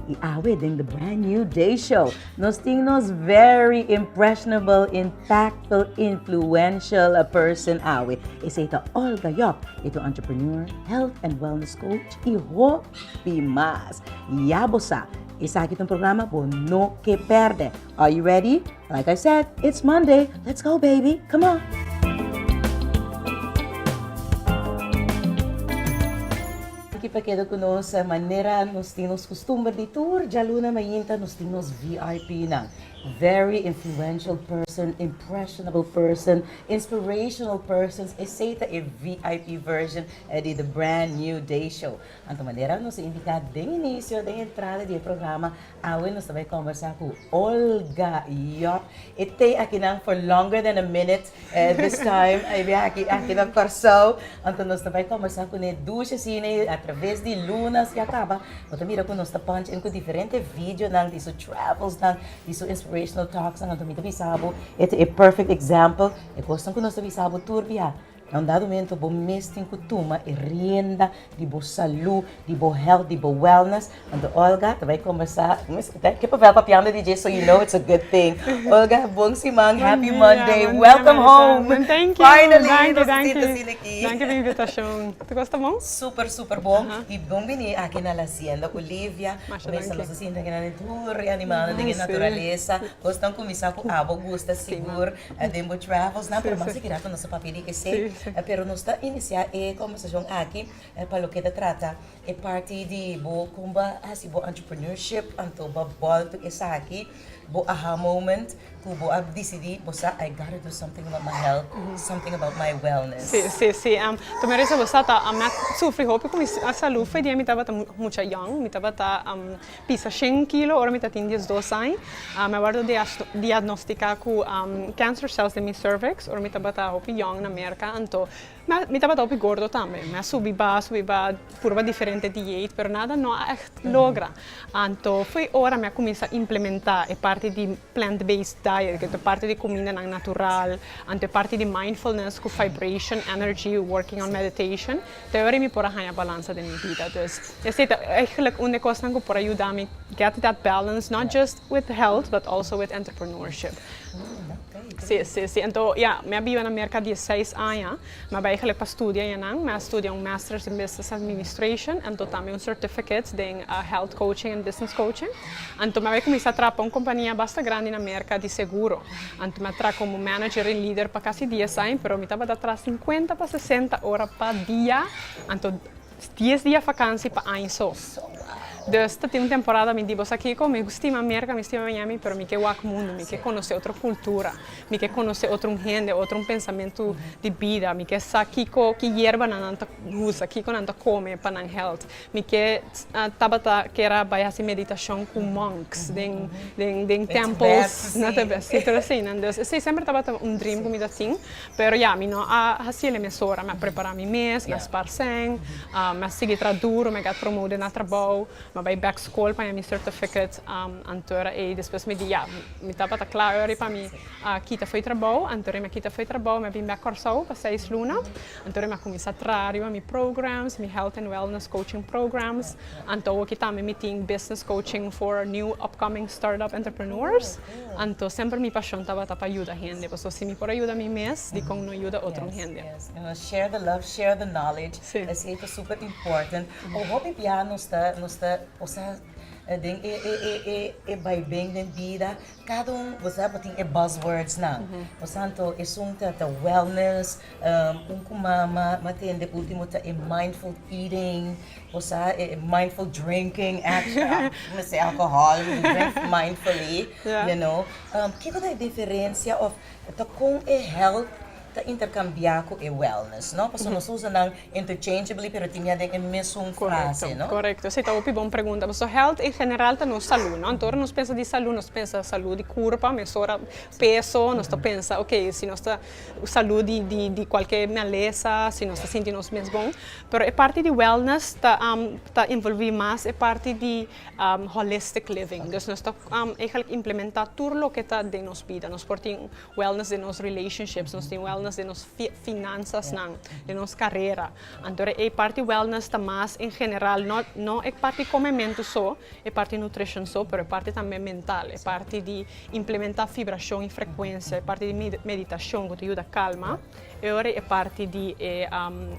Y awe den the brand new Day Show nos tin nos very impressionable, impactful, influential person awe. Esei ta Olga Job. E ta un entrepreneur, health and wellness coach y hopi mas. Ya bo sa, esaki ta un programa bo no ke perde. Are you ready? Like I said, it's Monday, let's go baby, come on! Aki pa keda ku nos, manera nos tin nos kustumber di tur djaluna mainta nos tin nos VIPnan. Very influential person, impressionable person, inspirational persons, esei ta e VIP version di the brand new day show. Anto manera nos a indika den inisio, den entrada di e programa, Awe nos ta bai kombersá ku Olga York. E te akinan for longer than a minute this time. E biaha aki aki na Kòrsou. Anto nos ta bai kombersá kuné dushi asina a traves di lunas ya kaba. Bo ta mira ku nos ta punch in ku diferente videonan di su travelsnan, di su inspirational talksnan. Anto mi ta bisa bo e ta e perfect example. E kosnan ku nos ta bisa bo tur biaha Na un dado mento bo mes tin ku tuma e rienda di bo salú, di bo health, di bo wellness. Anto Olga ta bai kombersá, ke papel pa piando di dje so you know it's a good thing. Olga bon siman, happy Monday, welcome home finally nos tin ta sini aki. Danki di invitashon. Tur kos ta bon? Super super bon i bon bini aki na Lazienda Olivia ku mester nos a sinti aki nan e tur animalnan den e naturalesa. Kosnan kuminsá ku abo gusta sigur. den bo travelsnan, pero mas di keda ku nos a papia di esei. Pero nos ta inisiá e kòmbersashon aki pa loke ta trata e parti di bo kon bo a hasi bo entrepreneurship anto bo a bòltu esaki, bo aha moment ku bo a disidí bo sa I got to do something about my health, something about my wellness. Sí, sí, sí. Promé resa bo sa ta, ami a sufri hopi ku mi salú, fo'i di mi tabata mucha yòn, mi tabata. pisa shen kilo ora mi ta tin diesdos añ. Mi a wòrdu diagnostika ku cancer cells den mi cervix ora mi tabata hopi yòn na Merka. Anto mi tabata hopi gordo tambe. Mi a subi ba, subi ba, purba diferente diet, pero nada no a ègt logra. Anto foi ora mi a kuminsá implementá e parti di. Plant-based diet, ku ta parti di kumindanan natural, anto e parti di mindfulness ku vibration, energy, working on meditation, ta e ora mi por a haña balansa den mi bida. Dus esei ta eigenlijk un di e kosnan ku por a yuda mi get that balance, not just with health but also with entrepreneurship. Si, si, si. Anto, ya, mi a biba na Merka dieseis aña. Mi a bai gelijk pa studia ja nan. Mi a studia un Masters in Business Administration anto tambe un Certificate den Health Coaching and Business Coaching. Anto mi a bai kuminsá traha pa un kompania basta grandi na Merka di seguro. Anto mi a traha komo manager i lider pa kasi dies aña, pero mi tabata traha sinkuenta pa sesenta ora pa dia, anto. Dies dia fakansi pa aña so. Dus ta tin un temporada mi di bo sa kiko? Mi stima Merka, mi stima Miami pero mi ke wak mundu, mi ke konosé otro kultura, mi ke konosé otro un hende, otro un pensamentu di bida, mi ke sa kiko ki yerbanan nan ta usa, kiko nan ta kome pa nan hèlt, mi ke tabata ker a bai hasi meditashon ku monks den den den tèmpels, no ta bai? Si tur asina. Dus esei semper tabata un dream ku mi ta tin, Pero ya, mi no a hasié na mesora, mi a prepará mi mes, mi a spars'en, mi a sigui tra duru, mi a get promode na trabou, mi a bai bèk skol paña mi certificate, antor ei despues mi di ya, mi tabata kla ora ei pa mi kita fo'i trabou, anto ei mi a kita fo'i trabou, mi a bin bèk Kòrsou pa seis luna, anto ei mi a kuminsá traha riba mi programs, mi health and wellness coaching programs, anto awor ki tambe mi tin business coaching for new upcoming startup entrepreneurs. Anto semper mi pashon tabata pa yuda hende, pasobra si mi por a yuda mi mes, dikon no yuda otro hende? Yes, yes. Nos share the love, share the knowledge. Sí. Esei ta super important. Por hopi biaha nos ta, nos ta posa den e, e, e, e, e baiben den bida, kada un, bo sa bo tin e buzz words nan. Por tanto, esun ta, ta wellness, un ku mama, m'a tende, ultimo ta e mindful eating. Bo sa e mindful drinking apps ku a mester alkohòl, mi drink mindfully, you know. Kiko ta e diferensia òf ta kon e health ta interkambiá ku e wellness, no? Pasobra nos ta usa nan interchangeably pero tin mia den e mesun frase, no? Korekto, korekto. Si, ta hopi bon pregunta. Pasobra health en general ta nos salú, no? Anto ora nos pensa di salú, nos ta pensa salú di kurpa, mesora peso, nos ta pensa, okay, si nos ta Salú di kualke malesa si nos ta sinti nos mes bon. Pero e parti di wellness ta envolví mas e parti di holistic living. Dus nos ta eigenlijk implementá tur loke ta den nos bida. Nos por tin wellness den nos relationships, nos tin wellness den nos finanzasnan, den nos karera. Anto e parti wellness ta mas en general, no no e parti comementu so, e parti nutrition so, pero e parti tambe mental, e parti di implementa fibracion y frecuencia, e parti di meditacion cu ta yuda calma, e ora e parti di e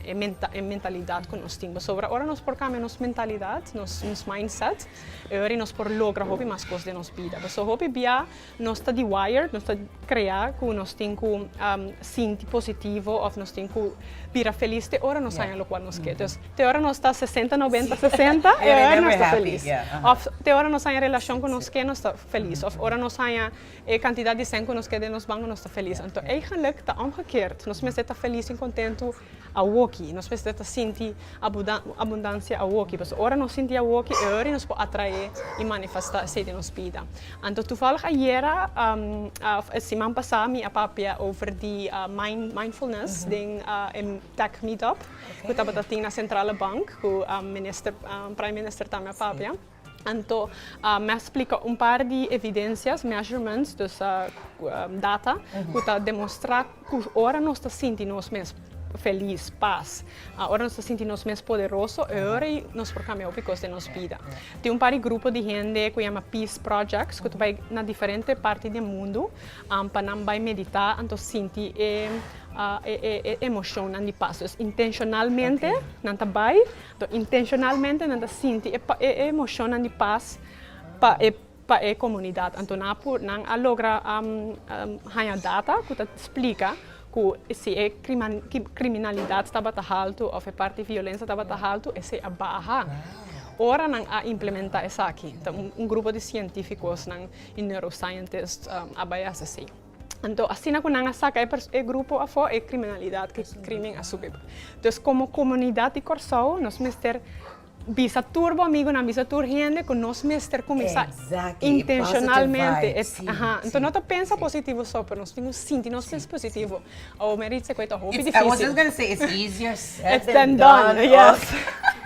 e mentalidad cu nos tin. Pasobra ora nos por cambia nos mentalidad, nos mindset, e ora nos por logra hopi mas cos den nos bida. Paso hopi bia Nos ta di wired, nos ta krea ku nos tin ku sinti positivo òf nos tin ku bira felis te ora nos haña lokual nos ke. Entonces, te ora nos ta sesenta noventa sesenta e aver nos ta felis. Òf te ora nos haña relashon ku nos ke nos ta felis. Òf ora nos haña e kantidat di sèn ku nos ke den nos banko nos ta felis. Anto eigenlik ta òmgekeerd, nos mester ta felis en kontentu. Awoki nos mester ta sinti abundansia awoki pasobra ora nos sinti awoki e hori nos por atrae y manifesta esey den nos bida. Anto tuvallig ayera of e siman pasa mi a papia over di mindfulness den e tech meetup cu tabata tin na centrale bank cu minister prime minister tambe a papia. Anto, m'a splica un par di evidencias, measurements, dus data, cu ta demostra cu ora nos ta sinti nos mes feliz, paz, ora nos ta sinti nos mes poderoso, e ora ei nos por cambia hopi cos den nos bida. Tin un par di grupo di hende cu yama Peace Projects cu ta bay na diferente parti den mundu pa nan bay medita anto sinti e emocion nan di paz. Dus intencionalmente nan ta bay Toh intencionalmente nan ta sinti e emocionnan di paz pa e pa e comunidad. Anto nan a por nan a logra haña data cu ta splica cu si e criminalidad tabata halto of e parti violencia tabata halto esey a baha. Ora nan a implementa esaki ta un grupo di cientificos nan y neuroscientists a bay a haci esey. Anto asina ku nan a saka e grupo afó e kriminalidat ku e krimen a subi. Entonces komo komunidat di Kòrsou nos mester bisa tur bo amigunan, bisa tur hende ku nos mester kuminsá intenshonalmente. Entonces no ta pensa positivo so pero nos tin ku sinti nos mes positivo. Awor mi a richi cu e ta hopi difícil. I was just gonna say it's easier said than done. Yes.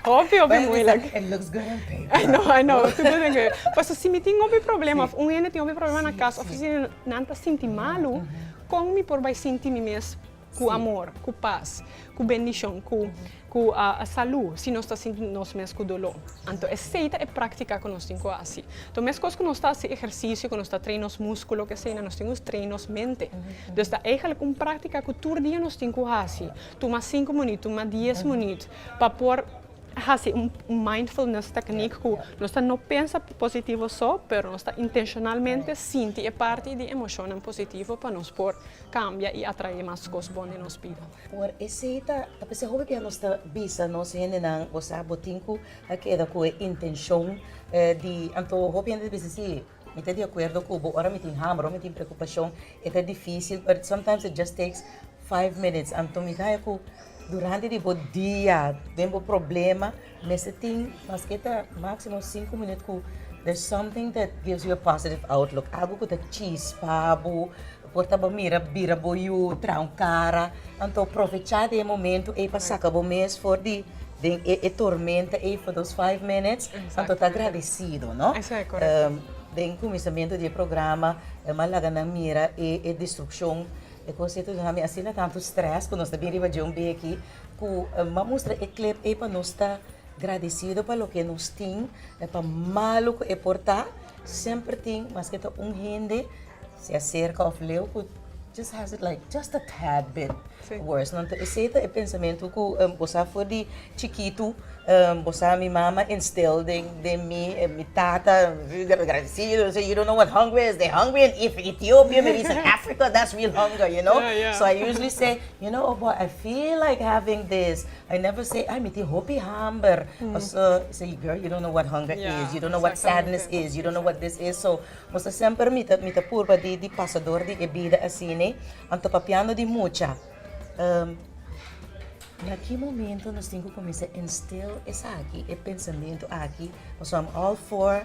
Hopi, hopi moeilijk. It looks good on paper. I know, I know. Tudu den ke. Paso si mi tin hopi problema of un hende tin hopi problema na cas of si nan ta sinti malu, con mi por bay sinti mi mes cu amor, cu paz, cu bendicion, cu. Ku a salú si nos ta sinti nos mes ku doló. Anto esei ta e práktika ku nos tin ku a hasi. To meskos ku nos ta hasi ehersisio, ku nos ta train nos múskulo, ku esei na nos tin ku train nos mente. Dus ta eigelik un práktika ku tur dia nos tin ku hasi. Tuma sinku munit, tuma dies munit pa por hasi un mindfulness teknik ku nos ta no pensa positivo so, pero nos ta intenshonalmente sinti e parti di emoshonnan positivo pa nos por kambia i atraé mas kos bon den nos bida. Por esei ta p'esei hopi bia nos ta bisa nos hendenan bo sa bo tin ku a keda ku e intenshon di. Anto hopi hende ta bisa si mi ta di akuerdo ku bo ora mi tin hamber ora mi tin preokupashon e ta difisil but sometimes it just takes five minutes anto mi ta haña ku durante di bo dia den bo problema. Mester tin masketa maximo sinku minut ku there's something that gives you a positive outlook, algu ku ta chispa bo, por ta bo mira bira bo yu, traha un kara. Anto provecha di e momentu ei pa saka bo mes for di den e tormenta ei for those five minutes, anto ta agradesido no. Den kuminsamentu di e programa e m'a laga nan mira e destrukshon, e kos ei, asina tantu stress ku nos ta bin riba dje un beki, Cu m'a mustra e clip ey pa nos ta gradecido pa loke nos tin, pa malo cu e por ta, semper tin maske ta un hende sea cerca of leu cu just has it like just a tad bit worse. Nto esey ta e pensamentu cu bo sa for di chikitu bo sa mi mama instill den mi, mi tata gradecido sey you don't know what hungry is, they hungry in Ethio-pia me dicen africa that's real hunger you know, so I usually say. You know oh boy I feel like having this I never say ay mi tin hopi hamber paso say girl you don't know what hunger is you don't know what sadness is you don't know what this is so mi ta semper mi ta purba di pasa dor di e bida asina anto papiando di mucha na ki momento nos tin ki comienza instill esaki e pensamiento aki paso am all for.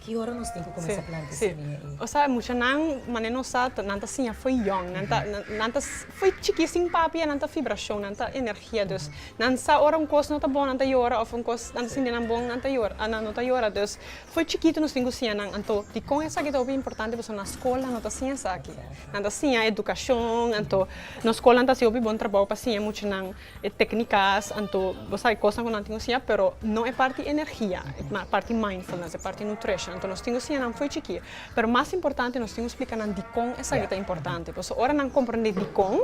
Ki ora nos tin ku kuminsá planta e semia ei? O sa, muchanan, manera nos sa, nan ta siña fo'i yòn. Nan ta, nan ta fo'i chikí sin papi ya nan ta fibrashon, nan ta energia. Dus, nan sa ora un kos no ta bon nan ta yora òf un kos nan ta sinti nan bon nan ta yora, nan no ta yora. Dus, fo'i chikitu nos tin ku siña nan. Anto, dikon esaki ta hopi importante? Pasobra na skol nan no ta siña esaki. Nan ta siña edukashon. Anto, nos skolnan ta hasi hopi bon trabou pa siña muchanan. E tecnicas anto bo sabi cosnan cu nan tin cu siña pero no e parti energia e parti mindfulness e parti nutrition anto nos tin cu siña nan fo'i chikí pero mas importante nos tin cu splica nan dicon esaki ta importante pasobra ora nan comprende dicon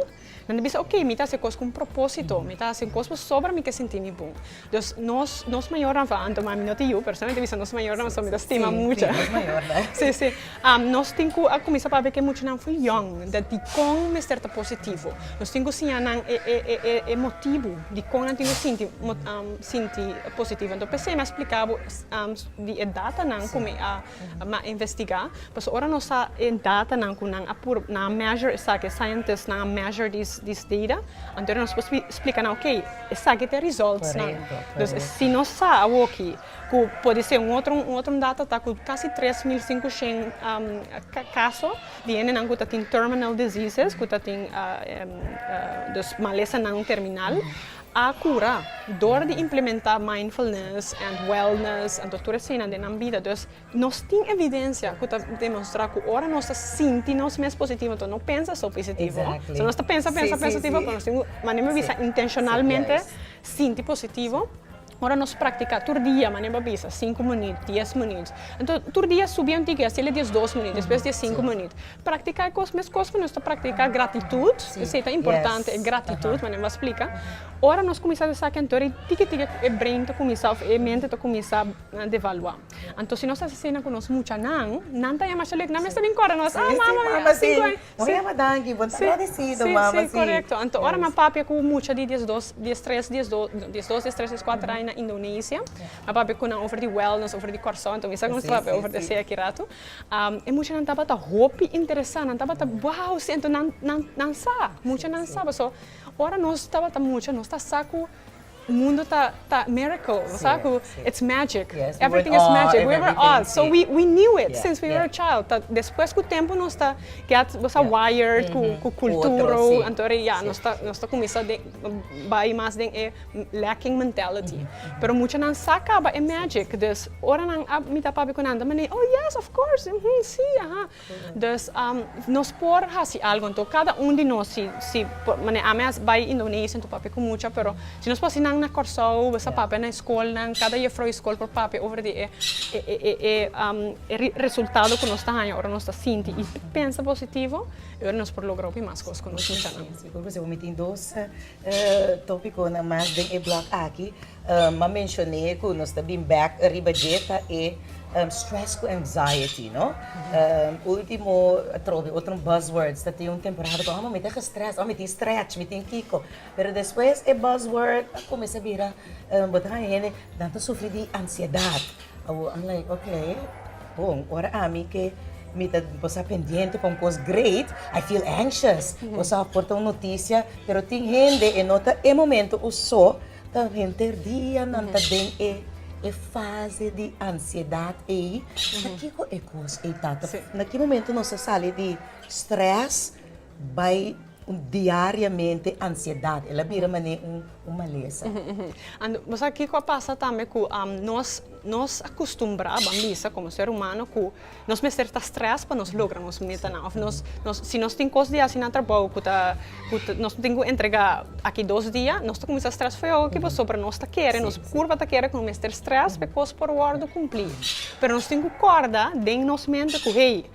nan ta bisa ok mi ta haci e cos cu un proposito mi ta haci cos pasobra mi ke sinti mi bon Dus nos nos mayornan for Anto mami no tin yu pero solamente bisa nos mayornan pasobra mi ta stima mucha. Sí, nos mayornan. Sí, sí. Am nos tin ku a kuminsá papia ku e muchanan for yòn den dikon mester ta positivo. Nos tin ku siña nan e e e e e motibu dikon nan tin ku sinti mo am sinti positivo. Anto p'esei mi a splika bo di e datanan ku mi a a investigá, pasobra ora nos sa e datanan ku nan a nan a measure esaki, e scientisnan a measure dis data, anto ora nos por splika nan oke, esaki ta e resultsnan. Dus si nos sa awoki ku pudi ser un otro un otro data ta ku kasi tres mil sinku shen kaso di hendenan ku ta tin terminal diseases, ku ta tin dus malesanan terminal. a cura door di implementa mindfulness and wellness anto tur eseinan den nan bida dus nos tin evidencia cu ta demonstra cu ora nos ta sinti nos mes positivo anto no pensa so pisitivo so nos ta pensa pensa pensa tiba pero nos tin cu manera mi bisa intencionalmente sinti positivo ora nos practica tur dia manera mi a bisa cinco minut dies minut anto tur dia subi un tiki haciel e diesdos minut despues dies cinco minut. Praktiká e kos meskos ku nos ta praktiká gratitut. Esei ta importante, e gratitut, manera mi a splika. Ora nos kuminsá hasi esaki, anto tiki tiki e brein ta kuminsá òf e mente ta kuminsá devaluá. Anto si nos hasi esei nan ku nos muchanan, nan ta yama Shalik, nan mes ta bin kòrda nos, ah mama, mama a sinku aña. Bo ta yama danki, bo ta agradesido, mama si. Si, korekto. Anto ora mi a papia ku mucha di dies dos, dies tres, dies dos, no, dies dos, dies tres, dies kuater aña na Indonesia, mi a papia ku nan over di wèlnès, over di Kòrsou, anto mi sa ku nos ta papia over di esei aki ratu. E muchanan tabata hopi interesá, nan tabata wou siento nan nan sa, mucha nan sa, pasobra ora nos tabata mucha nos ta sa ku mundo ta ta miracle, bo sa ku it's magic, everything is magic, we were awe, so we we knew it since we were child, ta despues ku tempu nos ta get bo sa wired ku ku kultura anto nos ta nos ta kuminsá den bai mas den e. lacking mentality. Pero muchanan sa caba e magic dus ora nan a mita papia cu nan ta mane oh yes of course uhm si aha. Dus nos por haci algo anto cada un di nos si si por mane ami a bay Indonesia anto papia cu mucha pero si nos por haci nan na Corsou besa papia na escolnan cada juffrouw di scol por papia over di e e e resultado cu nos ta haya ora nos ta sinti y pensa positivo y nos por logra hopi mas cos cu nos muchanan. Sigur cu si bo mi tin dos E topiconan mas den e blog aki, m'a mencion'é cu nos ta bin back riba dje ta e stress cu anxiety no. Ultimo atrobe otro buzz words ta tin un temporada cu amo mi ta gestress, amo mi tin stretch, mi tin kico. Pero despues e buzz word a cuminsa bira bo ta haña hende nan ta sufri di ansiedad. Awor a like ok lei. Bon, ora ami ke mi ta pasá pendiente pa un kos great, I feel anxious. Boso a porta un notisia, pero tin hende e no ta e momento ku so ta henter dia nan ta den e e fase di ansiedat ei. Pakiko e kos ei tata? Na ki momento nos ta sali di strès? Bai diariamente ansiedad. El a bira manera un malesa. And bo sa kiko a pasa tambe ku nos nos a kustumbrá ban bisa komo ser humano ku nos mester ta strès pa nos logra nos metanan òf nos nos si nos tin kos di hasi na trabou ku ta ku ta nos tin ku entregá aki dos dia nos ta kuminsá strès feó aki pasobra por nos ta kere nos kurpa ta kere ku nos mester strès pa e kos por wòrdu kumplí pero nos tin ku kòrda den nos mente ku hey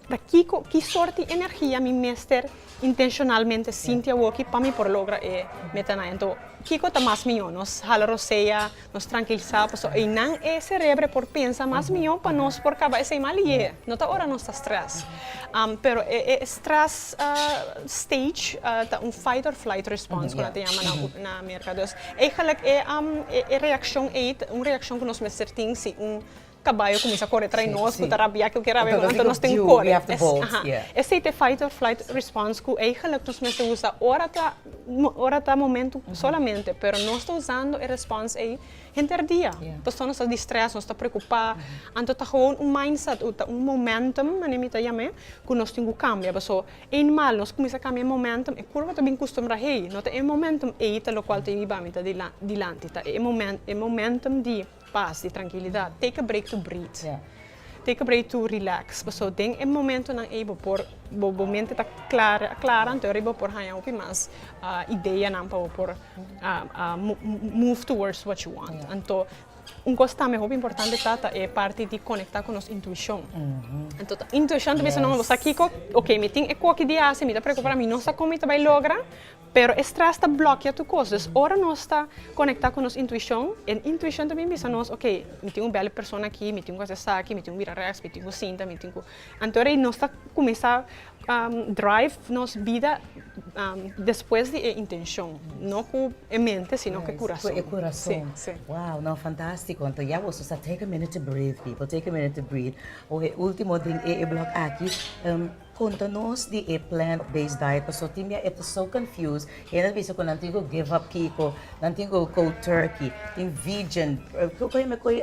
Ta kiko, ki sort di energia mi mester intencionalmente sinti awoki pa mi por logra e metanan? Anto, kiko ta mas mihó? Nos hala rosea, nos trankilsa, pasobra einan e serebro por pensa mas mihó pa nos por kaba esei malié. No ta ora nos ta strès. Pero e strès stage ta un fight or flight response, ku nan ta yama na Merka. Dus, eigelijk e reakshon ei ta un reakshon ku nos mester tin si un Caballo cuminsa corre trae nos cu ta rabia cu kier a haber anto nos tin corre. Esey ta e fight or flight response cu ey geluk nos mester usa ora ta ora ta momento solamente pero nos ta usando e response ey henter dia pasobra nos ta di stress nos ta preocupa anto ta gewoon un mind set o ta un momentum manera mi ta yame cu nos tin cu cambia paso ey mal nos cuminsa cambia e momentum e curva ta bin custumbra hey no ta e momentum ey ta locual ta yibami ta dilanti ta e momen e momentum di Pas di trankilidat. Take a break to breathe. Ya. Take a break to relax. Pasobra den e momentonan ei bo por, bo, bo mente ta klar, a klara, anto aver bo por haña hopi mas ideanan pa bo por move towards what you want. Ya. Anto, un kos tambe hopi importante ta, ta e parti di konektá ku nos intuishon. Anto ta intuishon ta bisa, no, mi sa kiko, oke, mi tin e koki di hasi, mi ta preokupá, mi no sa kon mi ta bai logra. Pero e strès ta blokia tur kos. Dus ora nos ta konektá ku nos intuishon, e intuishon ta bin bisa nos, ok, mi tin un bèl persona aki, mi tin ku hasi esaki, mi tin ku bira rèks, mi tin ku sinta, mi tin ku. Anto rei nos ta kuminsá drive nos bida despues di e intenshon, no ku e mente sino ku e kurason. Ku e kurason. Wow, no, fantástiko. Anto ya boso sa take a minute to breathe people, take a minute to breathe. Oe ultimo den e blòk aki. Conta nos di e plant based diet paso tin mia e ta so confused hende ta bisa cu nan tin cu give up kico nan tin cu cold turkey tin vegan kico e mi a coy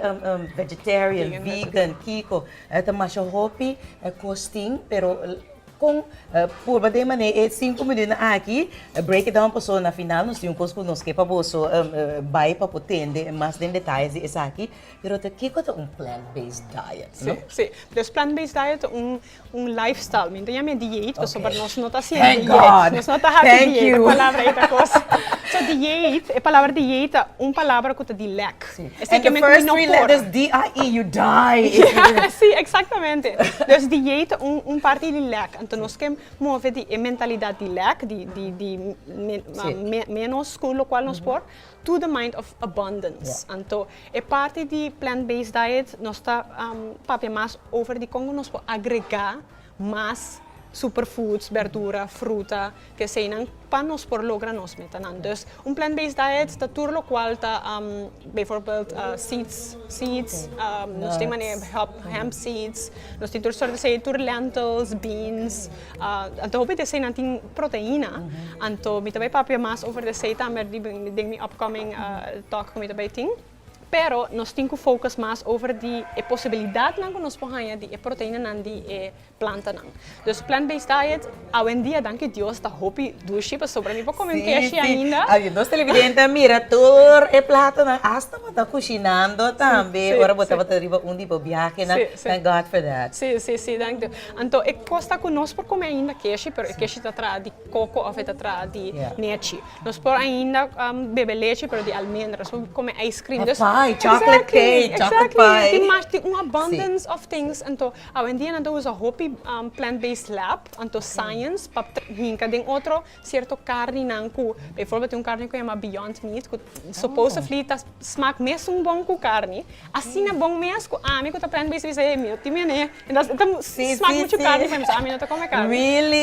vegetarian vegan kico e ta masha hopi e cos tin pero con purba den mane e cinco minutnan aki break it down paso na final nos tin un cos cu nos ke pa boso bay pa por tende mas den detaye di esaki pero ta kico ta un plant based diet? Sí sí plant based diet ta un un lifestyle mi no ta yama e dieet pasobra nos no ta haci e dieet nos no ta haci dieet e palabra ei ta cosa so dieet e palabra dieet ta un palabra ku ta di lek esei ke men ku mi no por si exactamente dus dieet ta un parti di lek anto nos ke move di e mentalidad di lek di di di menos ku lokual nos por to the mind of abundance. Anto e parti di plant based diet nos ta papia mas over di con nos por agrega mas super foods, berdura, fruta, te eseinan pa nos por logra nos metanan. Dus un plant based diet ta tur locual ta bijvoorbeeld seeds, seeds, nos tin hemp seeds, nos tin tur soort di seed, tur lentils, beans. Anto hopi di esei nan tin proteina. Anto mi ta bay papia mas over di esei ta merdi den mi upcoming talk ku mi ta bay tin. Pero nos tin ku focus mas over di e posibilidadnan ku nos por haña di e proteinanan di e plantanan. Dus plant based diet awendia danki Dios ta hopi dushi pasobra mi por kome un keshchi ainda. Si, nos televidente a mira tur e platonan hasta bo ta kushinando tambe ora bo tabata riba un di bo biahenan. Thank God for that. Si, si, si. Thank you. Anto e kosta ku nos por kome ainda keshi, pero e keshi ta traha di koko òf e ta traha di nechi. Nos por ainda bebe lechi pero di almendra, nos por kome ice cream. Òf pie, chocolate cake, chocolate pie. Exactly, tin un abundance of things. Anto awendia nan ta usa hopi plant-based lab, anto science, pa hinka den otro. Cierto carninan cu, bijvoorbeeld e un carne cu yama Beyond Meat, cu supposedly ta smaak mesun bon cu carne, asina bon mes cu ami cu ta prende bisa bisa hey, mi no tin mene, intas e ta smaak muchu carne pa mi, so ami no ta come carne.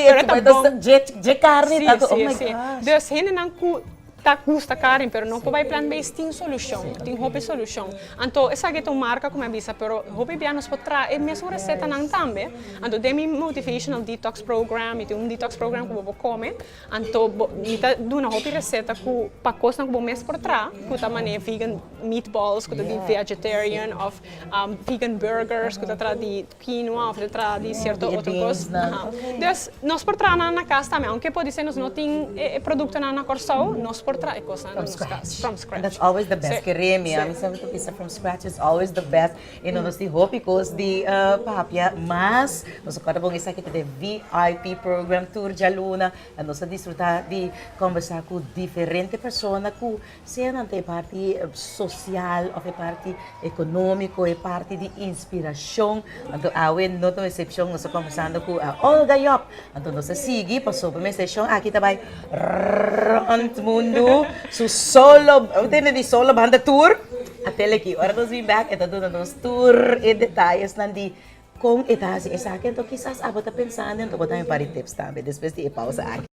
Pero e ta bon. Si, si, si. Dus hendenan cu. Ta gusta Karen pero no por bay plant base tin solucion tin hopi solucion anto esaki eta un marca cu mi a bisa pero hopi bia nos por traha e mesun recetanan tambe anto den mi motivational detox program mi tin un detox program cu bo por come anto bo mi ta duna hopi receta cu pa cosnan cu bo mes por traha cu ta manera vegan meatballs cu ta di vegetarian of vegan burgers cu ta traha di Kino of ta traha di sierto otro kos. Dus nos por traha nan na kas tambe. Aunke podisé nos no tin e produktonan na Kòrsou, nos por traha e kosnan na nos kas, from scratch. That's always the best, keré mi. Ami siempre ta bisa from scratch is always the best. I no nos tin hopi kos di papia, mas nos ta kòrda bon esaki ta den VIP program tur djaluna, nos a disfrutá di kòmbersá ku diferente persona ku. Sea nan ta e parti social of e parti economico, e parti di inspiracion, anto awe no ta un excepcion, nos ta conversando cu Olga Job, anto nos ta sigui, pasobra mi estacion aki ta bay rond mundo, su solo, bo tende di solo banda tour, a teleki, ora nos bin bek e ta duna nos tur e detayesnan di con e ta haci esaki, anto kisas abo ta pensando, anto bo dami un par di tips tambe despues di e pausa aki.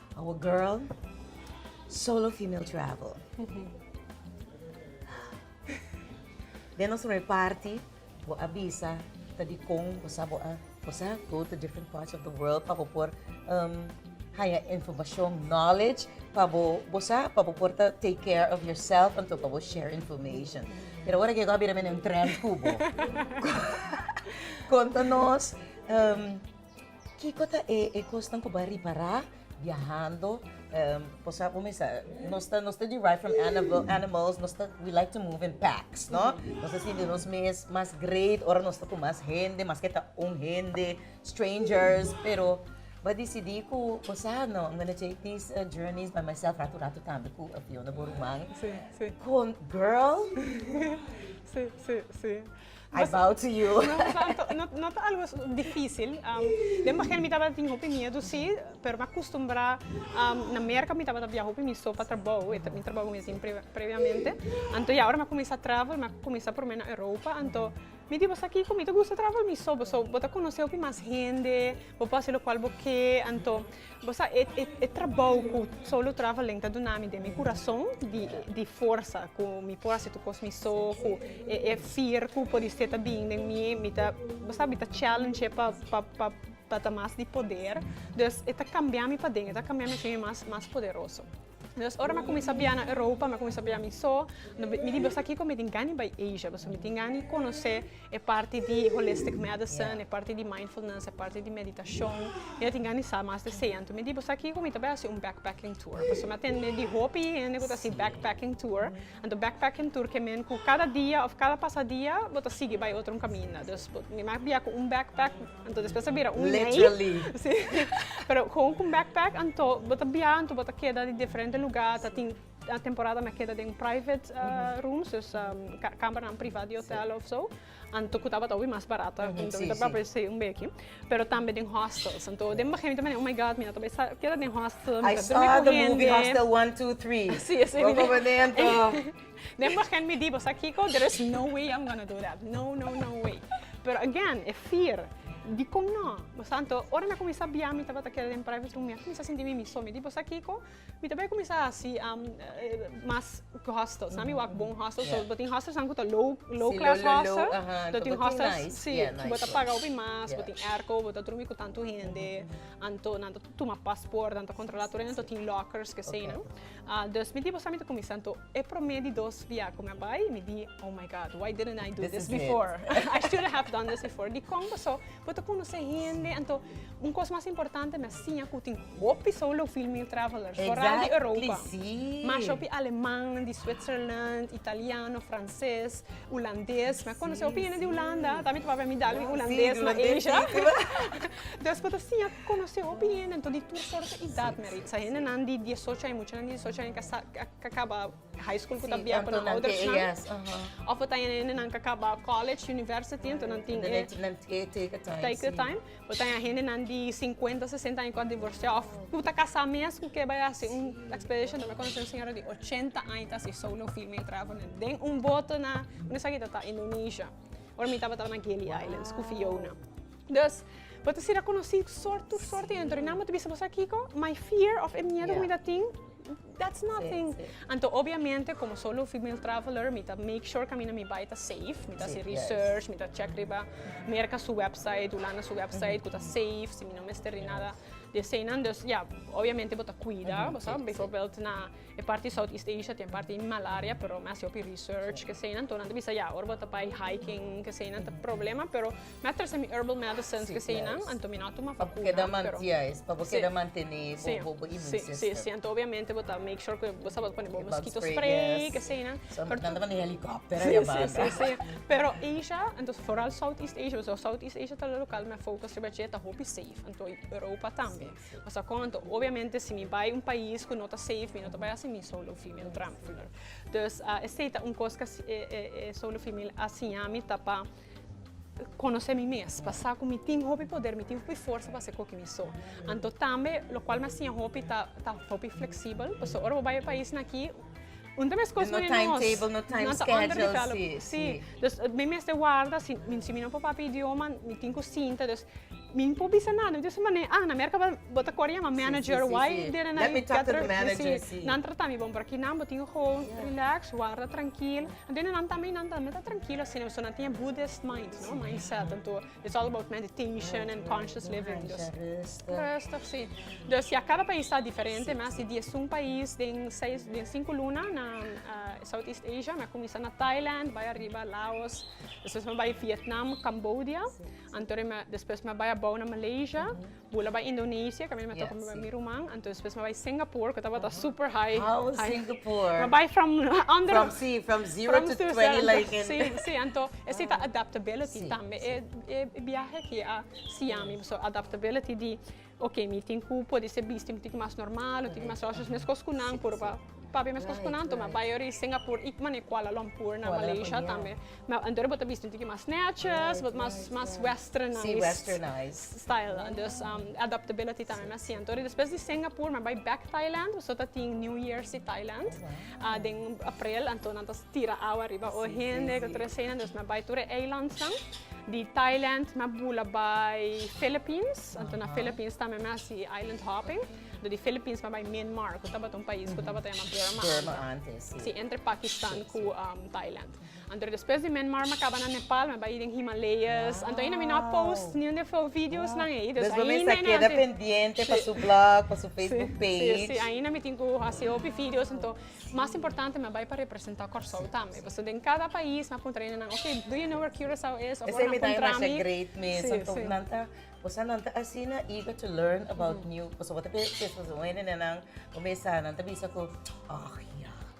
Our girl, solo female travel. Den nos reparti bo a bisa ta dikon bo sa bo a bo sa go to different parts of the world pa bo por um haya informashon, knowledge pa bo bo sa pa bo por ta take care of yourself anto pa bo share information. Pero ora ke go a bira mi na un trend ku bo konta nos um. Kiko ta e e kosnan ku bo a ripará biahando? bo sa bo mester nos ta nos ta derive from animal animals, nos ta we like to move in packs no, nos ta sinti nos mes mas great ora nos ta ku mas hende maske ta un hende, strangers, pero bo a disidí ku bo sa no am gonna take this journeys by myself ratu ratu tambe ku Fiona, bo ruman, kon girl! I bow to you. No ta algo dificil. Den bagian mi tabata tin hopi miedu si, pero mi a custumbra. Na Merca mi tabata biaha hopi mi so pa trabou, mi trabou mes in previamente. Anto ya ora mi a cuminsa travel, mi a cuminsa prome na Europa, anto mi di boso aki cu mi ta gusta travel mi so, boso bo ta conoce hopi mas hende, bo por haci locual bo ke, anto. Bo sa e e trabou ku Solo Traveling ta duna mi den mi kurason di di forsa ku mi por hasi tur kos mi so, ku e e fir ku por di ser ta bin den mi, mi ta bo sa mi ta challenge pa pa pa pa ta mas di poder. Dus e ta kambia mi paden, e ta kambia mi a si mi mas mas poderoso. Entonces ora mi a cuminsa bia na Europa, mi a cuminsa bia mi so, mi di boso kiko mi tin gana di bai Asia, pasobra mi tin gana di conoce e parti di holistic medicine, e parti di mindfulness, e parti di meditacion, mi a tin gana di sa mas di esey. Anto mi di boso kiko mi ta bai hasi un backpacking tour, pasobra mi a tende di hopi hende cu ta hasi backpacking tour, anto backpacking tour ke men cu cada dia of cada pasa dia bo ta sigui bai otro un caminda, dus mi a bia cu un backpack. Anto despues ta bira un lei. Literally. Sí. Pero kon ku un backpack, anto bo ta bia, anto bo ta keda di diferente lugar, ta tin temporada mei a keda den private rooms, dus kambernan priva di hotel of so, anto ku tabata hopi mas barato, anto bo ta bira por esei un beki. Pero tambe den hostels, anto den begin mi ta manda oh my god mi a tabata sa keda den hostel, mi ta durmi ku hende. I saw the movie Hostel one two three. Sí, esei mei. Bo ta kaba den anto. Den begin mi di bo, sa kiko, there is no way I'm gonna do that, no, no, no way. Pero again, e fear, dikon no? Pasanto, ora mi a kuminsá bia, mi tabata keda den private room, mi a kuminsá sinti mi miso, mi di bo, sa kiko, mi ta bai kuminsá hasi mas hostels, nan mi wak bon hostels, so bo tin hostels nan ku ta low, low class hostel, lo tin hostels, si, ku bo ta paga hopi mas, bo tin airco, bo ta drumi ku tantu hende, anto nan ta tuma pasport, nan ta kontrolá tur hende, anto tin lockers, kesei nan. Dus mi di bo sa, mi ta kuminsá anto. E promé di dos biaha ku mi a bai, mi di, Oh my God, why didn't I do this before? I should have done this before. Dikon paso? Bo ta konosé hende anto. Un kos mas importante, mi a siña ku tin hopi solo female travelers, foral di Europa. Mashop di alemannan, di Switzerland, italiano, franses. Ulandes, mi a conoce hopi hende di Ulanda, ta miti papia mi dal mi Ulandes na Asia. Entonces cu ta siña conoce hopi hende, entonces di tur soort di edad mi a reisa. Hendenan di diesocho aña, muchanan di diesocho aña cu a caba high school cu ta bia cu nan oudersnan. Of ta hende cu a caba college, university, entonces nan tin e take time. Bo ta haña hendenan di sinkuenta, sesenta aña ku a divorsiá òf ku ta kasá mes ku ke bai hasi un ekspedishon. Mi a konosé un señora di ochenta aña ta hasi solo firm'é traba den un boto na un esakito ta Indonesia. Ora mi tabata na Gili Islands ku Fiona. Dus bo ta sira konosí sòrt tur sòrt di hende. Ora nan bo ta bisa bo sa kiko? My fear òf e miedu ku mi ta tin. That's nothing. Anto obviamente como solo female traveler mi ta make sure cu ami na mi bay ta safe, mi ta haci research, mi ta check riba Merca su website, Hulanda su website cu ta safe, si mi no mester di nada di eseynan. Dus ya, obviamente bo ta cuida, bo sa, bijvoorbeeld na e parti di Southeast Asia tin e parti di malaria, pero mi a haci hopi research, eseynan. Tonan ta bisa ya, ora bo ta bay hiking, eseynan ta problema, pero. Mi a trese mi herbal medicines si esei nan anto mi no a tuma vacuna pero. Pa bo keda mantia es pa bo keda mantene bo bo immune system. Si si si anto obviamente bo ta make sure ku bo sa pone bo mosquito spray ke esei nan. So nan ta maneha helicopter aya banda. Si si si pero Asia anto foral south east Asia pasobra south east Asia ta local mi a focus riba dje ta hopi safe anto Europa tambe pasobra kon anto obviamente si mi bai un pais ku no ta safe mi no ta bai a haci mi solo female drampler. Dus esei ta un kos ke e e e solo female a siña mi ta pa. konosé mi mes, pa sa ku mi tin hopi poder, mi tin hopi forsa pa hasi koki mi so. Anto tambe lokual mi a siña hopi ta ta hopi fleksibel, pasobra ora bo bai e paisnan aki, un ta meskos No manera nos. timetable, no time nan ta under schedule, developed. sí, sí. Si, dus mi mester warda, si, si mi no papá e idioma, mi tin ku sinta, dus. Mi por bisa nan, dios mane, ah, na Merca bo, bo ta kor yama manager wai dere nan yu kèter manager, si, nan trata mi bon, pero aki nan bo tin gewoon relax, warda trankil, a bini nan tambe, nan tambe ta trankil asina, pasobra nan tin e Buddhist mind, no, mind set, anto it's all about meditation and conscious living, dus, rustig, si, dus ya kada pais ta diferente mes, di diezun pais den seis, den sinku luna na South East Asia, mi a kuminsá na Thailand, bai ariba Laos, despues mi a bai Vietnam, Cambodia. Anto ri mi a, despues mi a bai abou na Malaysia, bula bai Indonesia, kaminda mi a toka mi bai mi ruman, anto despues mi a bai Singapore, ku tabata super high, How was high. Singapore? Mi a bai from under, From, sí, from zero from to zero, twenty, anto, like in... sí, sí, anto esei ta adaptability Sí, tambe. sí. E, e biahe aki a siña mi, so, adaptability di Oke, mi tin ku por di se bisti mi tin ku mas normal, mi tin ku mas rosa, so meskos ku nan por pa papia meskos ku nan tuma. Bai yori Singapur i manera Kuala Lumpur na Malaysia tambe. Anto bo ta bisti un tiki mas netjes, bo ta mas mas westernized style nan. Dus adaptability tambe mi a siento. Despues di Singapur mi a bai bek Thailand, so ta tin New Jersey Thailand. Den aprel anto nan ta tira awa riba ora hende ku tur eseinan dus na bai tur e eilandsnan di Thailand mi a bula bai Philippines anto na Philippines tambe mi a hasi island hopping di Philippines mi a bai Myanmar ku tabata un pais ku tabata yama Burma antes si entre Pakistan ku Thailand. Anto despues di Myanmar mi kaba na Nepal mi a bai den Himalayas anto ainda mi no a post niun den fu'e videos nan ei dus ainda ainda anto despues mi sa keda pendiente pa su blog pa su Facebook page si si ainda mi tin ku hasi hopi videos anto mas importante mi a bai pa representa Kòrsou tambe pasobra den kada pais mi a puntra ainda nan okay do you know where Curaçao is of where mi a puntra mi si si nan ta osea nan ta asina eager to learn about new pasobra bo ta keda kos kos wende nan bo mesa nan ta bisa ku ah ya.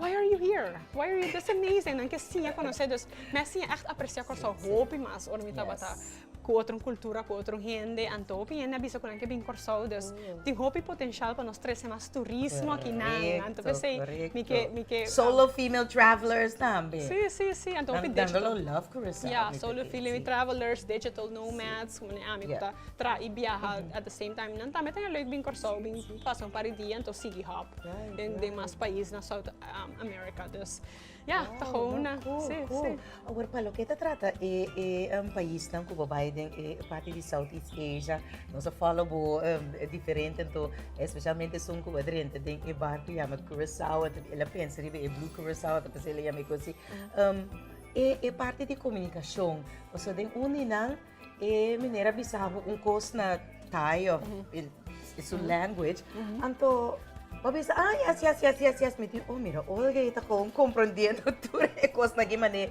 Why are you here? Why are you this amazing? Nan ke siña konosé. Dus mi a siña ègt apresiá Kòrsou hopi mas ora mi tabata ku otro kultura, ku otro hende. Anto hopi hende a bisa ku nan ke bin Kòrsou. Dus tin hopi potenshial pa nos trese mas turismo aki nan. Anto p'esei mi ke, mi ke. Solo female travelers tambe. Si, si, si. Anto hopi digital. Nan dando lo love ku Rizal. Ya, solo female travelers, digital nomads, ku mane ami ku ta traha i biaha at the same time. Nan tambe ta ña lek bin Kòrsou, bin. Paso par di dia enton sigui hòp den demas pais na South America. Dus ya, ta gona. Si, si. Awor, pa loke ta trata e paisnan ku bo bai den e parti di Southeast Asia, nos a fòlò bo diferente anto, espesialmente esun ku a drenta den e barku yama Curacao, anto el a pensa riba e Blue Curacao, ta pasa el a yama e ku asi. E parti di komunikashon, pasobra den uninan. E miner a bisa habu un kos na Thai of su language, anto bo a bisa, ah, yes, yes, yes, yes, yes. Mi di, oh, mira, Olga e ta kon komprendiendo tur e kosnan aki mané.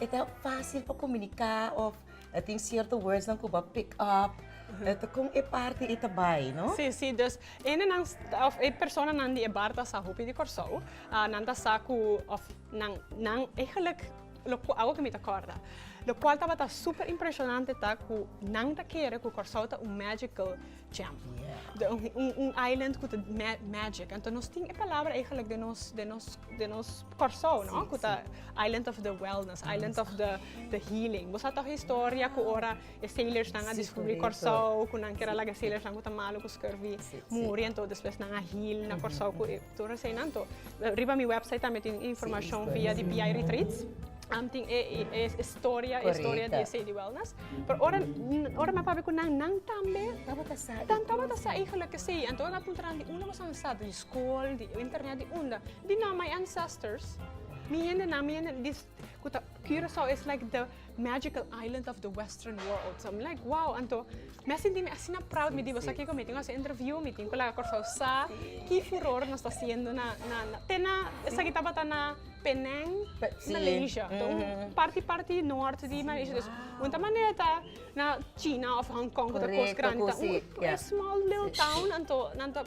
E ta fásil pa komuniká of a tin sierto wordsnan ku bo a pick up. Ta kon e parti i ta bai, no? Sí, sí. Dus, hendenan, of e personanan di e bar ta sa hopi di Kòrsou. Nan ta sa ku, of nan, nan, eigenlijk. Lo ku awo ke mi ta kòrda. Lo kual tabata super impreshonante ta ku nan ta kere ku Kòrsou ta un magical gem. Un island ku ta magic. Anto nos tin e palabra eigelik den nos den nos den nos Kòrsou no? Ku ta island of the wellness, island of the the healing. Bo sa tòg e historia ku ora e sailorsnan a diskubri Kòrsou, ku nan kira laga e sailorsnan ku ta malu ku skirvi muri, anto despues nan a heal na Kòrsou ku e Tur eseinan to. Riba mi website tambe tin informashon via di PI Retreats. Am tin e e storia e storia di esei di wellness. Pero ora ora mi a papia ku nan, nan tambe tabata sa i tur esei. Nan tabata sa i gelijk ke si. Anto mi a puntra nan di unda boso a sa, di skol, di internet, di unda? Di nan, my ancestors, mi hendenan, mi hende di ku ta Curaçao is like the. Magical island of the western world. So mi like wow, anto mi a sinti mi asina proud mi di boso aki ku mi tin ku hasi interview, mi tin ku laga Kòrsou sa ki furor nos ta hasiendo na na te na esaki tabata na Penang, Malaysia. Un parti parti nòrt di Malaysia. Dus un ta manera ta na China òf Hong Kong ku ta kos grandi, ta un small little town anto nan ta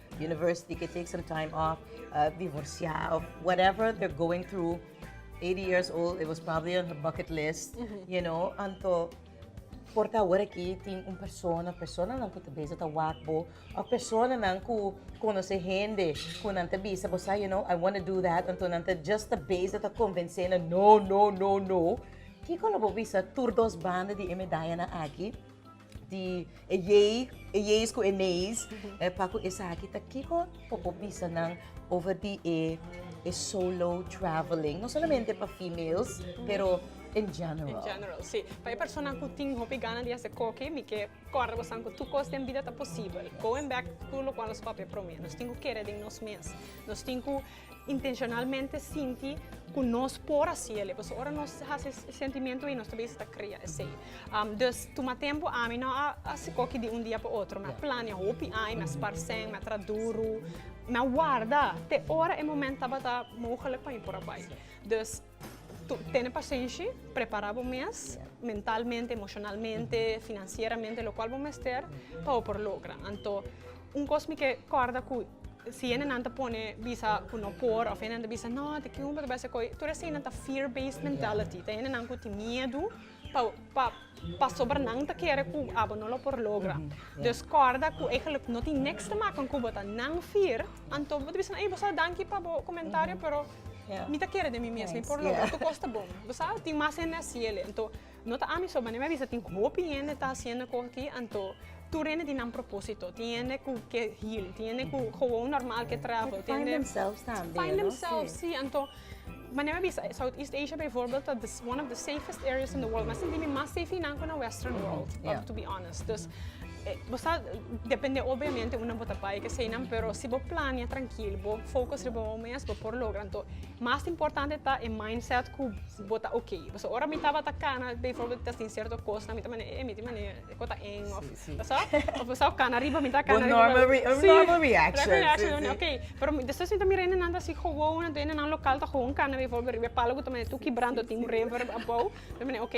University ke take some time off, divorsia of whatever they're going through, eighty years old, it was probably on her bucket list, you know, anto por ta awor aki tin un persona, personanan ku ta beza ta wak bo, of personanan ku konosé hende ku nan ta bisa bo sa you know, I wanna do that, anto nan ta just ta beza ta konvensé nan no, no, no, no, kiko lo bo bisa tur dos banda di e medayanan aki? di e yei, e yeis ku e neis, e pa ku esaki ta kiko por bo bisa nan over di e solo traveling, no solamente pa females pero in general. In general, si. Pa e personanan ku tin hopi gana di hasi koki, mi ke kòrda bosan ku tur kos den bida ta posibel. Going back ku lokual nos papia promé, nos tin ku kere den nos mes. Nos tin ku intencionalmente sinti cu nos por haci el'e, pasobra ora nos haci e sentimiento ey nos ta bisa ta crea esey. Um, dus tuma tempo, ami no a haci coki di un dia pa otro, mi a plania hopi aña, mi a sparcen, mi a traha duru, mi a warda te ora e moment tabata mogelijk pa mi por a bay. Dus Tene pasenshi, prepará bo mes mentalmente, emoshonalmente, finansieramente, lokual bo mester pa bo por logra. Anto un kos mi ke kòrda ku si hendenan ta pone bisa ku no por òf hendenan ta bisa no te kiun bo ta bai esei kos tur eseinan ta fear based mentality ta hendenan ku tin miedu. pa pa pasobra nan ta kere ku abo no lo por logra. Dus kòrda ku eigenlik no tin nèks te maka kon ku bo ta nan fir, anto bo ta bisa ei bo sa danki pa bo komentario pero mi ta kere den mi mes mi por logra tur kos ta bon. Bo sa tin mas hende asi ele anto no ta ami so manera mi a bisa tin hopi hende ta hasiendo kos aki anto tur hende tin nan propósito. Tin hende ku ke heal, tin hende ku gewon normal ke travel, tin hende find themselves si anto. Manera mi bisa, Southeast Asia bijvoorbeeld ta one of the safest areas in the world. Mi a sinti mi mas safe hinan ku na western world, to be honest. Dus, bo sa, depende obviamente unda bo ta bai, kesei nan, pero si bo plania trankil, bo focus riba bo mes, bo por logra. Anto, mas importante ta e mindset ku bo ta oke. Pasobra ora mi tabata kana, bijvoorbeeld mi ta sincerto kosnan, mi ta manda, eh, mi tin manda e ku ta eng, of. Pasobra bo ta sa cana riba mi ta cana riba. Un normal reaction. Pero despues mi ta mira e nenan ta si gewoon e nenan local ta gewoon cana riba y e palo cu ta manda tur kibrando tin un reverb abao mi ta manda ok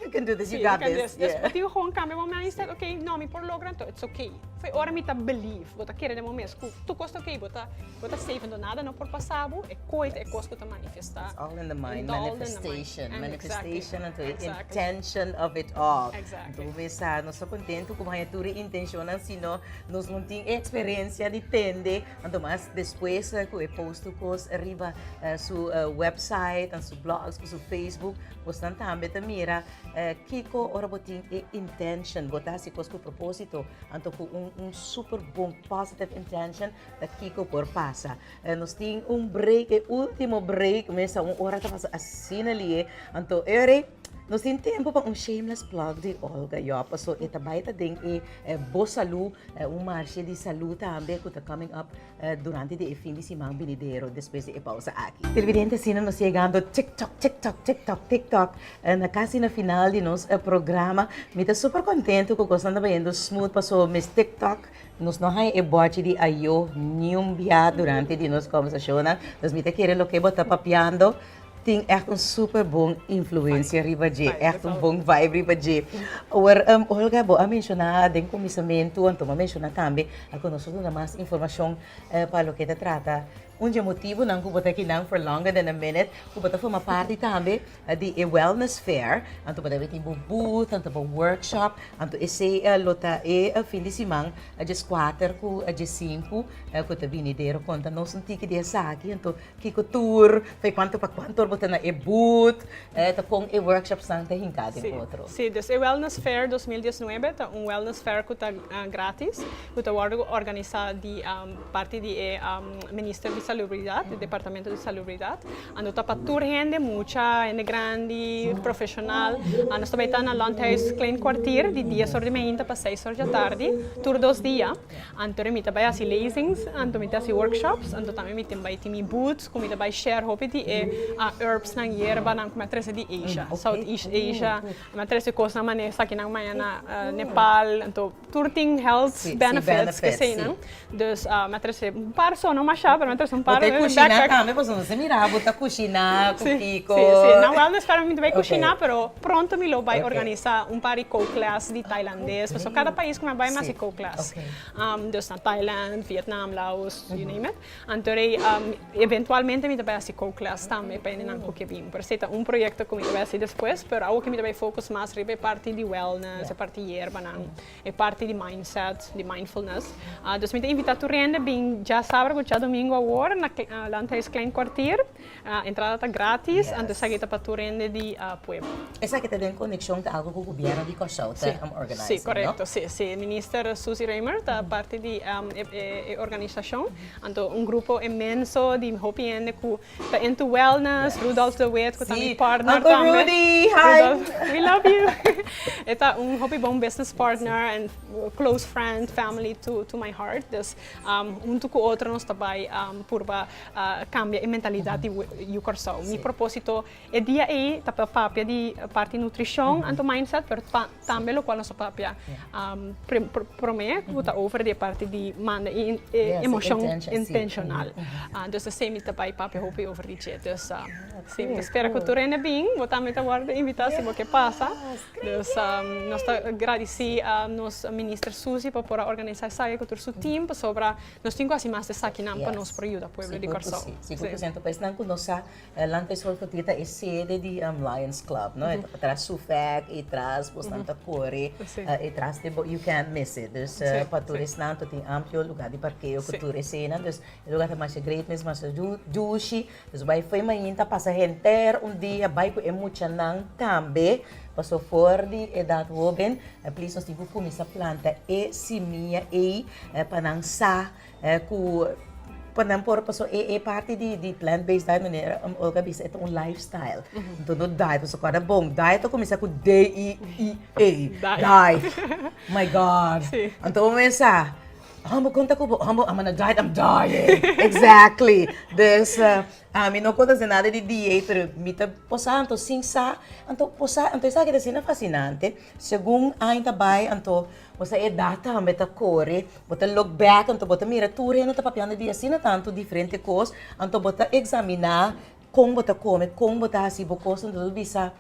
you can do this you got this. Despues bo tin gewoon cambia bo mindset ok no mi por logra entonces it's ok. Ora mi ta believe bo ta kere den bo mes cu tur cos ta ok bo ta. Bo ta safe endo nada no por pasa bo, e coit e cos cu ta manifesta. It's all in the mind, manifestation, manifestation and the intention of it all. Exactly. Bo sa, nos so contento cu haya tur intention an sino nos no tin experiencia di tende, anto mas despues cu e post tu cos arriba su website and su blogs cu su Facebook, bo san tambe ta mira kico ora bo tin e intention, bo ta hasi cos cu proposito, anto cu un super bon positive intention, Ta kiko por pasa. Eh, nos tin un break, e ultimo break mesa. Un ora ta pasa asina li'e. Anto, Eury, nos tin tempo pa un shameless plug di Olga, yup. Paso, e ta bai ta den e Bo Salud, un marshe di salud tambe cu ta coming up durante di e fin di siman binidero, despues di e pausa aki. Tilibidente, asina nos yegando tiktok, tiktok, tiktok, tiktok, na casi na final di nos programa. Mi ta super contento cu cosnan ta bayendo smooth, paso mes tiktok Nos no haña e bòchi di ayo niun bia durante di nos kòversashonnan. Dus mi ta kere loke bo ta papiando tin ègt un super bon influensia riba dje, ègt un bon vibe riba dje. Awor, Olga, bo a menshoná den kuminsamentu, Anton a menshoná tambe, a ku nos por duna mas informashon pa loke ta trata Un dje motibunan ku bo ta kinan for longer than a minute ku bo ta forma parti tambe di e wellness fair. Anto bo debe tin bo booth, anto bo workshop, anto esei lo ta e fin di siman djes kuater ku djes sinku ku ta binidero. Konta nos un tiki di esaki, anto kiko tur, e kuantu pa kuantu bo ta na e booth, ta kon e workshops nan ta hinká den otro. Sí, sí. Des e wellness fair dos mil diesnuebe ta un wellness fair ku ta gratis. Cu ta wordo organisa di parti di e Minister di Salubridad, e Departamento di Salubridad. Anto ta pa tur hende, mucha, hende grandi, profesional. Nos ta bay ta na Landhuis Klein Kwartier di dies or di mainta pa seis or di atardi, tur dos dia. Anto ri mi ta bay haci lezings, anto mi ta haci workshops, anto tambe mi tin bay tin mi booths cu mi ta bay share hopi di e herbsnan, yerbanan cu mi a trece di Asia, Southeast Asia. Mi a trece cosnan mane esaki nan maya na Nepal. Tur tin health benefits keseinan. Dus mi a trese un par sono masha pero mi a trese un par. Bo ta e kushina tambe pasobra mi a mira bo ta kushina ku Kiko. Si si si nan wellness fair mi no bai kushina pero pronto mi lo bai organisa un par di cook class di tailandes pasobra kada pais ku mi a bai mi a hasi cook class. Dus na Thailand, Vietnam, Laos, you name it. Anto rei eventualmente mi ta bai hasi kouklas tambe pa hende nan ku ke bin. Pero esei ta un proyekto ku mi ta bai hasi despues, pero awo ke mi ta bai fokus mas riba e parti di wellness, e parti yerbanan, e parti di mindset, di mindfulness. Dus mi ta invitá tur hende bin djasaber ku djadomingu awor na Landhuis Klein Kwartier. Entrada ta gratis, anto esaki ta pa tur hende di pueblo. Esaki ta den konekshon ku algu ku gobièrnu di Kòrsou ta òrganis, no? Si, korekto. Si, si. Minister Suzy Raymer ta parti di e organisashon. Anto un grupo inmenso di hopi hende ku ta into wellness, Rudolf de Wit ku ta mi partner tambe. Si, Uncle Rudy, hi! Rudolf, we love you. E ta un hopi bon business partner and close friend, family to my heart. Dus huntu ku otro nos ta bai purba Cambia e mentalidad di yu Corsou. Mi proposito e dia ey ta pa papia di parti nutricion anto mindset pero tambe lo cual nos ta papia prome cu ta over di e parti di manda e emocion intencional. Dus ta esey mi ta bay papia hopi over di dje. Dus si mi ta spera cu tur hende bin bo tambe ta wordo invita si bo ke pasa. Dus nos ta gradici nos minister Susie pa por a organisa esaki cu tur su team pasobra Nos tin cu haci mas di esakinan pa nos por yuda pueblo di Corsou. Sigur cu si, sigur cu si. Anto pa esnan cu no sa, Land Face Hall Fotria ta e sede di Lions Club, no? E ta tras Sufek, e tras bo esnan ta core, e tras de bo, you can't miss it. Dus, pa tur esnan anto tin amplio lugar di parkeo cu tur esenan. Dus, e lugar ta masha great, mes masha dushi. Nos bai fo'i mañin ta pasa henter un dia bai ku e muchanan tambe paso for di edat hoben please nos tin ku kuminsá planta e simia ei pa nan sa ku pa nan por paso e e parti di plant base diet manera Olga a bisa e ta un life style enton no diet nos ta kòrda bon diet ta kuminsá ku d i e diet my god anto bo mesa. Amo konta ku bo, amo amo na diet, I'm dying. Exactly. Dus ah mi no konta hacer nada di dieet, pero mi ta posa anto sin sa. Anto posa, anto esaki ta asina fascinante. Segun aña ta bai, anto boso edad tambe ta kore. Bo ta look back, anto bo ta mira tur hende ta papiando di asina tantu diferente kos. Anto bo ta examina Kon bo ta kome, kon bo ta hasi bo kos? Anto bo ta bisa,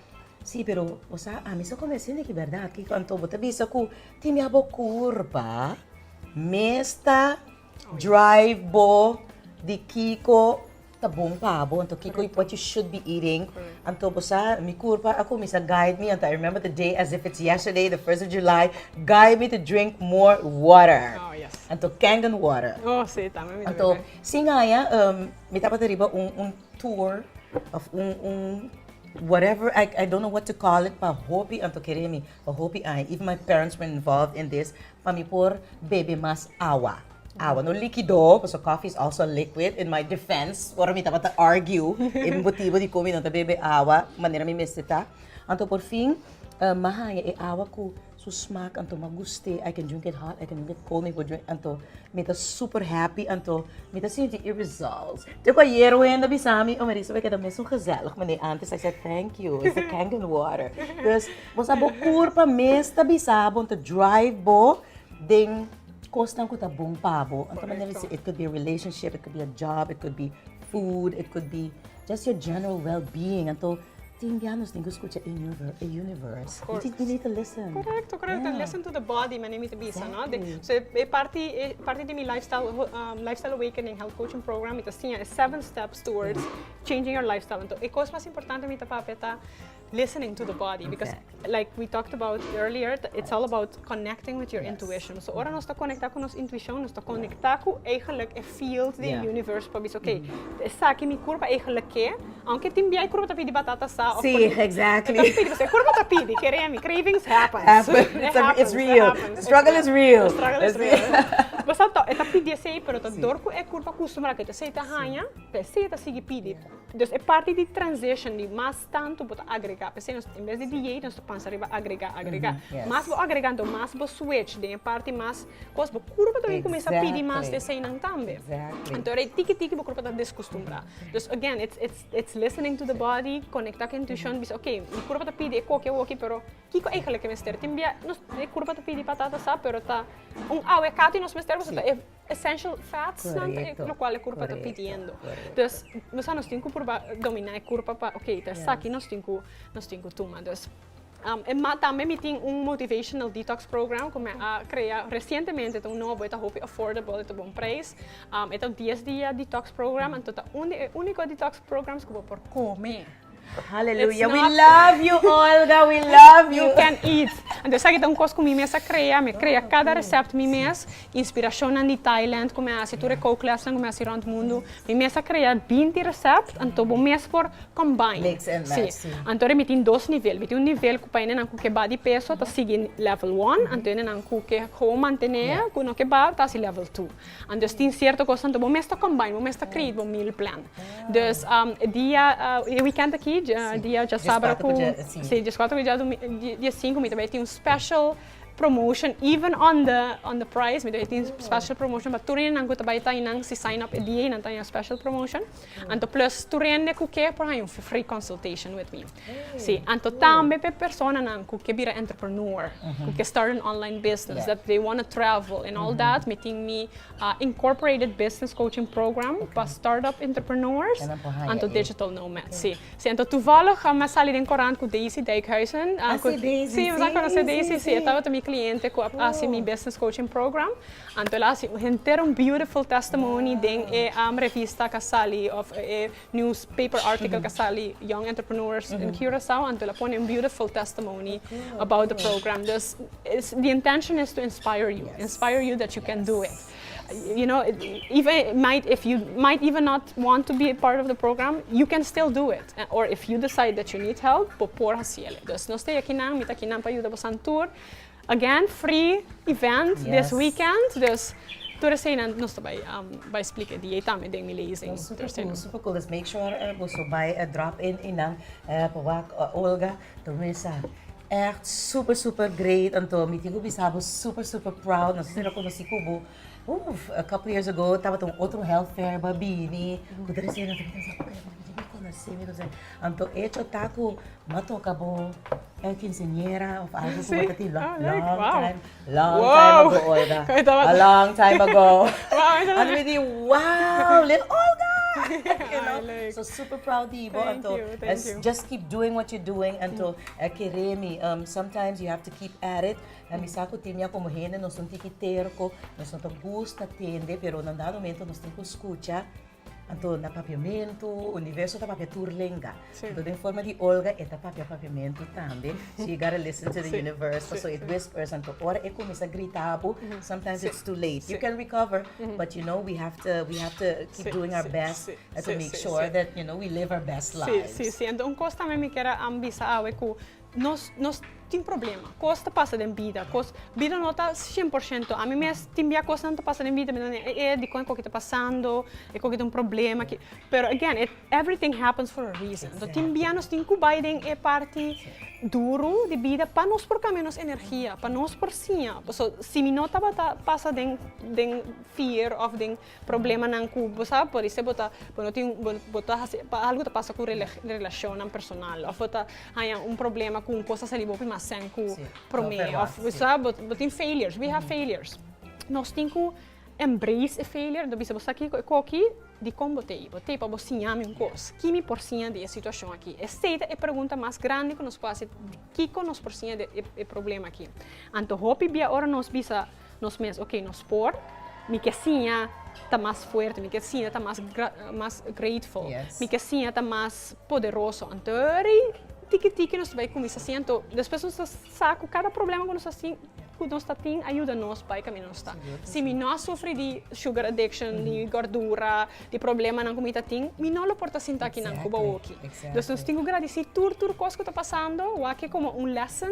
Sí, pero bo sa, ami sa kome asin di ki bèrdat. Kiko? Anto bo ta bisa ku tin mia bo kuur pa mes ta drive bo di kiko ta bon pa bo. Anto kiko i what you should be eating. Anto bo sa, mi kuur pa a kuminsa guide mi, anto I remember the day as if it's yesterday, the first of July, guide me to drink more water. Anto kangen water. Anto sin haña. Mi tabata riba un un tour of un un whatever I I don't know what to call it pa hopi anto kere mi pa hopi aña even my parents were involved in this pa mi por bebe mas awa awa no likido pasobra coffee is also a liquid in my defense ora mi tabata argue e motibo dikon mi no ta bebe awa manera mi mester ta anto por fin mi a haña e awa ku Su smaak anto ma gust'é, I can drink it hot, I can drink it cold, mi por drink anto mi ta super happy anto mi ta sinti e results. Te ku ayer wen a bisa mi, oh Marisa, mi keda mes un gezellig manera antes, I said, thank you, it's the Kangen water. Because bo sa bo kurpa mes ta bisa bo, ta drive bo den kosnan ku ta bon pa bo. Anto manera mi si it could be a relationship, it could be a job, it could be food, it could be. just your general well being anto tin bia nos tin cu scucha e universe y tin need to listen correcto correcto listen to the body manera mi ta bisa no so e parti di mi lifestyle awakening health coaching program mi ta siña e seven steps towards changing your lifestyle anto e cos mas importante mi ta papia ta Listening to the body because like we talked about earlier it's all about connecting with your intuition so ora nos ta conecta cu nos intuition nos ta conecta cu eigenlijk e field di e universe pa bisa okay esaki mi curpa eigenlijk ke aunke tin biaha e curpa ta pidi batata sa of e curpa ta pidi kere mi cravings happens it happens it's real the struggle is real e ta pidi esey pero ta dor cu e curpa custumra cu esey ta haña pa esey ta sigui pidi Entonces e parti di transition di mas tanto bo ta agrega p'esei nos en bes di diei nos ta pensa riba agrega agrega mas bo agrega entonces mas bo switch den e parti mas cos bo curba ta cuminsa pidi mas di esei nan tambe entonces ora e tiki tiki bo curba ta descostumbra entonces again it's it's it's listening to the body conecta cu e intuicion bisa okay mi curba ta pidi e coke awoki pero kico eigenlic e mester tin bia nos e curba ta pidi patata sa pero ta un awe e catu nos mester boso ta e essential fats nan lo cual e curpa ta pidiendo. Dus nos a nos tin cu purba domina e curpa pa ok ta esaki nos tin cu nos tin cu tuma. Dus e mat tambe mi tin un motivational detox program cu me a crea recientemente ta un nobo e ta hopi affordable e ta bon prijs. E ta dies dia detox program anto ta un di e unico detox programs cu bo por come. Hallelujah. It's not- We love you, Olga. We love you. You can eat. Anto esaki ta un kos ku mi mes a krea. Mi krea kada resèpt mi mes. Inspirashonnan di Thailand ku mi a hasi, tur e kouklesnan ku mi a hasi rònt mundu. Mi mes a krea binti resèpt, anto bo mes por combine. Mix and match, sí. Anto mi tin dos nivel. Mi tin un nivel ku pa hende nan ku ke ba di peso ta sigui level one, anto hende nan ku ke gewoon mantené, ku no ke ba, ta hasi level two. Andes tin cierto cos tanto bo mes ta combine bo mes ta create bo meal plan dus e dia e weekend aki dia dja sabra cu si dies cuatro cu dia domi dies cinco mi ta bay tin un special promotion even on the on the price mi ta bay tin special promotion pa tur enan cu ta bay ta enan si sign up e dia enan ta enan special promotion. Anto plus tur hende ku ke por haña un free consultation with me. Si, anto tambe pa e personanan ku ke bira entrepreneur, ku ke start an online business, that they wanna travel and all that, mi tin mi incorporated business coaching program pa start-up entrepreneurs, anto digital nomad. Si, si anto tuvallig mi a sali den korant ku Daisy Dijkhuizen. Así Daisy, sí. Sí, mi sa konosé Daisy, sí. E tabata mi kliente ku a hasi mi business coaching program. Anto el a hasi un henter un beautiful testimony den e revista k'a sali of e newspaper article k'a sali Young Entrepreneurs in Curaçao anto el a pone un beautiful testimony about the program. Dus the intention is to inspire you, inspire you that you can do it. You know even might if you might even not want to be a part of the program you can still do it or if you decide that you need help bo por hasiel. Dus nos ta e aki nan, mi ta aki nan pa yuda bosan tur. Again free event this weekend dus tur eseinan nos ta bai bai explica e dia y tambe den mi lezing. Nos super cool, nos super cool dus make sure boso bai drop in einan pa wak Olga ta wensha echt super super great anto mi tin ku bisa bo super super proud nos ta reconoci ku bo. Uf, a couple years ago tabata un otro health fair ba bini ku tres year atrás mi ta pensa oke mi konosé mi konosé anto echo ta ku mi a toka bo e kinseñera of algu ku bo ta tin long time long time ago Olga a long time ago anto mi di wow lel Olga you know so super proud di bo anto just keep doing what you doing anto e kere mi sometimes you have to keep at it Na mi sa cu tin mia como hende nos un tiki terco, nos no ta gusta tende, pero na un dado momento nos tin cu scucha, anto na papiamento, Universo ta papia tur lenga, anto den forma di Olga e ta papia papiamento tambe, so you gotta listen to the Universo, so it whispers, anto ora e cuminsa grita abu, sometimes it's too late, you can recover, but you know we have to, we have to keep doing our best to make sure that, you know, we live our best lives. Sí, sí, sí, anto un cos tambe mi kier a bisa awe cu. Nos nos tin problema. Kos ta pasa den bida. Kos bida no ta shen por shento. Ami mes tin bia kosnan ta pasa den bida mi ta wende e e dikon e ko ki ta pasando, e ko ki ta un problema ki. Pero again it everything happens for a reason. Exactly. Tin bia nos tin ku bai den e parti duru di bida pa nos por kambia nos energia, pa nos por siña. So si mi no tabata pasa den den fear of den Problemanan ku bo sa, por ese bo ta bo no tin bo ta hasi pa algu ta pasa ku relashonnan personal òf bo ta haña un problema ku un kos ta sali bo promé asèn ku promé òf bo sa bo tin failures we have failures nos tin ku embrace e failure bo bisa bo sa kiko e koki dikon bo tei bo tei pa bo siña mi un kos ki mi por siña di e situashon aki esei ta e pregunta mas grandi ku nos por hasi kiko nos por siña di e problema aki anto hopi bia ora nos bisa. Nos mes oke nos por mi ke siña ta mas fuerte mi ke siña ta mas mas greatful mi ke siña ta mas poderoso antori tiki tiki nos bai kuminsá siña anto despues nos ta sa ku kada problema ku nos ta si ku nos ta tin a yuda nos bai kaminda nos ta si mi no a sufri di sugar addiction di gordura di problemanan ku mi ta tin mi no lo por ta sinta kinan ku bahoki nos tin ku gradisi tur tur kos ku ta pasando wak e komo un lesson.